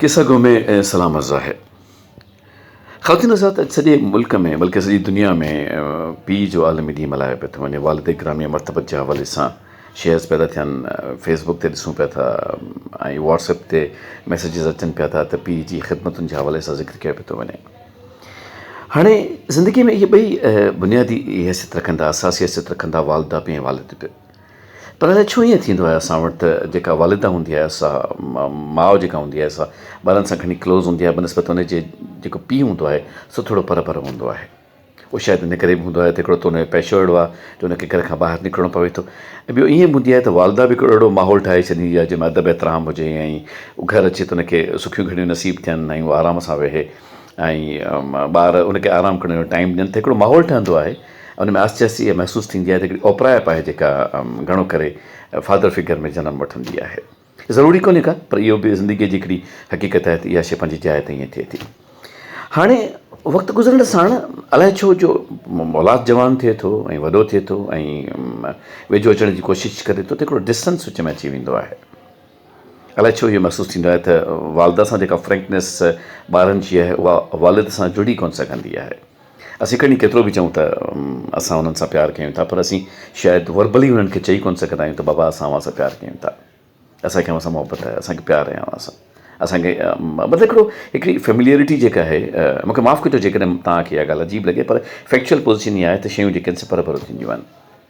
قصه گو ۾ سلام عرض آهي. خواتين حضرات اڄ سڄي ملڪ ۾ بلڪه سڄي دنيا ۾ پيء جو عالمي ڏينهن ملهايو پيو ٿو وڃي والده گرامي مرتبت جي حوالي سان شيئرز پيا ٿا ٿين فيس بڪ تي ڏسون پيا ٿا ۽ واٽس اپ تي ميسيجز اچن پيا ٿا ته پيء جي خدمتن جي حوالي سان ذڪر ڪيو پيو ٿو وڃي هاڻي زندگي ۾ اهي ٻئي بنيادي حيثيت رکندا اساسي حيثيت رکندا والده به ۽ والد به پر الاء ڇو ائين ٿيندو آهي اسان وٽ ته جيڪا والده هوندي آهي سا ماء جيڪا هوندي آهي سا ٻارن سان گهڻي ڪلوز هوندي آهي بنسبت ان جي جيڪو پيء هوندو آهي سو ٿورو پر پر هوندو آهي اهو شايد ان ڪري به هوندو آهي ته هڪڙو ته ان جو پيشو اهڙو آهي جو ان کي گهر کان ٻاهر نڪرڻو پوي ٿو ۽ ٻيو ائين به هوندي آهي ته والده به هڪڙو اهڙو ماحول ٺاهي ڇڏيندي آهي جنهن ۾ ادب احترام هجي ۽ هو گهر اچي ته ان کي سکيون گهڙيون نصيب ٿين ۽ هو آرام سان ويهي ۽ ٻار ان کي آرام ڪرڻ جو ٽائيم ڏين ته هڪڙو ماحول ٺهندو آهي ان ۾ آهستي آهستي اها محسوس ٿيندي آهي ته هڪڙي اوپرائپ آهي جيڪا گهڻو ڪري فادر فگر ۾ جنم وٺندي آهي. ضروري ڪونهي ڪا پر اهو به زندگيء جي هڪڙي حقيقت آهي ته اها شيء پنهنجي جاء تي ائين ٿئي ٿي. هاڻي وقت گذرڻ ساڻ الائي ڇو جو اولاد جوان ٿئي ٿو ۽ وڏو ٿئي ٿو ۽ ويجهو اچڻ جي ڪوشش ڪري ٿو ته هڪڙو ڊسٽنس وچ ۾ اچي ويندو آهي. الائي ڇو اهو محسوس ٿيندو آهي ته والده سان جيڪا فرينڪنيس ٻارن جي آهي اها والد سان جڙي ڪونه سگهندي آهي. اسين کڻي ڪيترو به چئون ته اسان انهن سان پيار ڪيون ٿا پر اسين شايد وربلي انهن کي چئي ڪونه سگهندا آهيون ته بابا اسان اوهان سان پيار ڪيون ٿا. اسان کي اوهان سان محبت آهي. اسان کي پيار آهي اوهان سان. اسان کي مطلب هڪڙو هڪڙي فيمليئرٽي جيڪا آهي مون کي معاف ڪجو جيڪڏهن توهان کي اها ڳالهه عجيب لڳي پر فيڪچوئل پوزيشن اها آهي ته شيون جيڪي آهن سي پرڀرو ٿينديون آهن.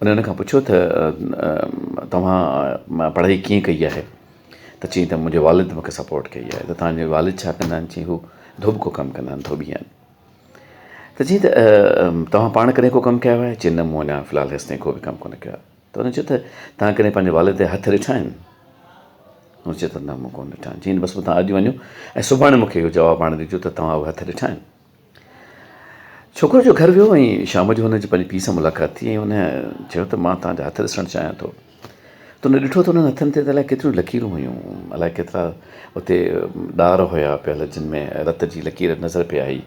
ان هن کان پڇيو ته توهان پڙهائي ڪيئن ڪئي آهي ته چيائين ته منهنجي والد مونکي سپورٽ ڪئي آهي ته تنهنجي والد ڇا ڪندا آهن چيائين هو ڌوٻ ڪو ڪم ڪندا آهن ڌوٻي آهن ته چيائين ته توهان پاڻ ڪڏهن ڪو ڪم ڪيو آهي چيائين نه مون اڃا في الحال هيستائين ڪو به ڪم ڪونه ڪيو آهي ته هن چيو ته توهان ڪڏهن پنهنجي والد جا هٿ ڏٺا آهن هن چيو ته نه مون ڪونه ڏٺا آهن چيائين بس پوء توهان اڄ وڃو ۽ سڀاڻي مونکي اهو جواب آڻي ڏجو ته توهان اهي هٿ ڏٺا آهن ڇوڪرو جو گهر ويو ۽ شام جو هن جي پنهنجي پيء سان ملاقات ٿي ۽ هن چيو ته مان توهان جا هٿ ڏسڻ چاهيان ٿو. تو نه ڏٺو ته انهن هٿن تي ته الائي ڪيتريون لڪيرون هيون. الائي ڪيترا اتي ڏار هيا پيل جن ۾ رت جي لڪير نظر پئي آئي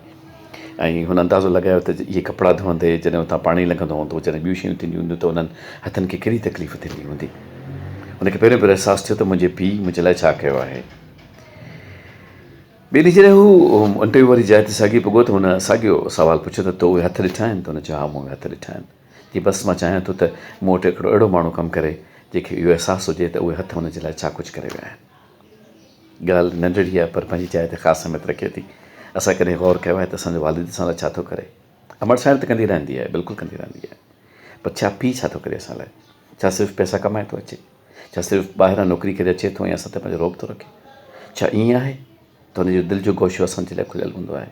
۽ هن اندازو لڳايو ته اهي ڪپڙا ڌوئندي جڏهن اتان پاڻي لنگهندو هوندو جڏهن ٻيون شيون ٿينديون هونديون ته انهن هٿن کي ڪهڙي تڪليف ٿيندي هوندي. هن کي پهريون ڀيرو احساس ٿيو ته منهنجي پيء منهنجي لاء ڇا ڪيو آهي. ٻئي ڏينهن جڏهن هو انٽرويو واري جاء تي ساڳي پڳو ته هن ساڳيو سوال پڇيو ته تو اهي هٿ ڏٺا آهن؟ ته هن چيو ها مون اهي هٿ ڏٺا آهن. جي بس مان چاهيان ٿو ته مون وٽ هڪڙو اهڙو ماڻهو ڪم ڪري جنهن کي اهو احساس هجي ته اهي هٿ هن جي لاء ڇا ڪجهه ڪري ويا آهن. ڳالهه ننڍڙي آهي پر پنهنجي جاء تي خاص اهميت رکي ٿي. اسان ڪڏهن غور ڪيو آهي ته اسان جو والد اسان لاء ڇا ٿو ڪري؟ امڙ سائڻ ته ڪندي رهندي آهي بلڪل ڪندي رهندي آهي پر ڇا پيء ڇا ٿو ڪري اسان لاء ڇا صرف پئسا ڪمائي ٿو اچي ڇا صرف ٻاهران نوڪري ڪري اچي ٿو ۽ اسان تي پنهنجو رعب ٿو رکي ڇا ائين آهي ته هن جو دل جو گوشو اسانجي لاء کليل هوندو آهي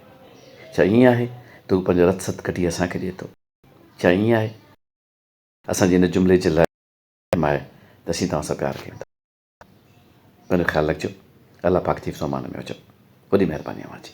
ڇا ائين آهي ته هو پنهنجو رت ست ڪڍي اسان کي ڏئي ٿو ڇا ائين آهي اسان جي ان جملي جي لاء اهم آهي ته اسين توهان سان پيار ڪيون ٿا پنهنجو خيال رکجو الله پاڪ جي حفظ و امان ۾ هجو وڏي مهرباني اوهان جي.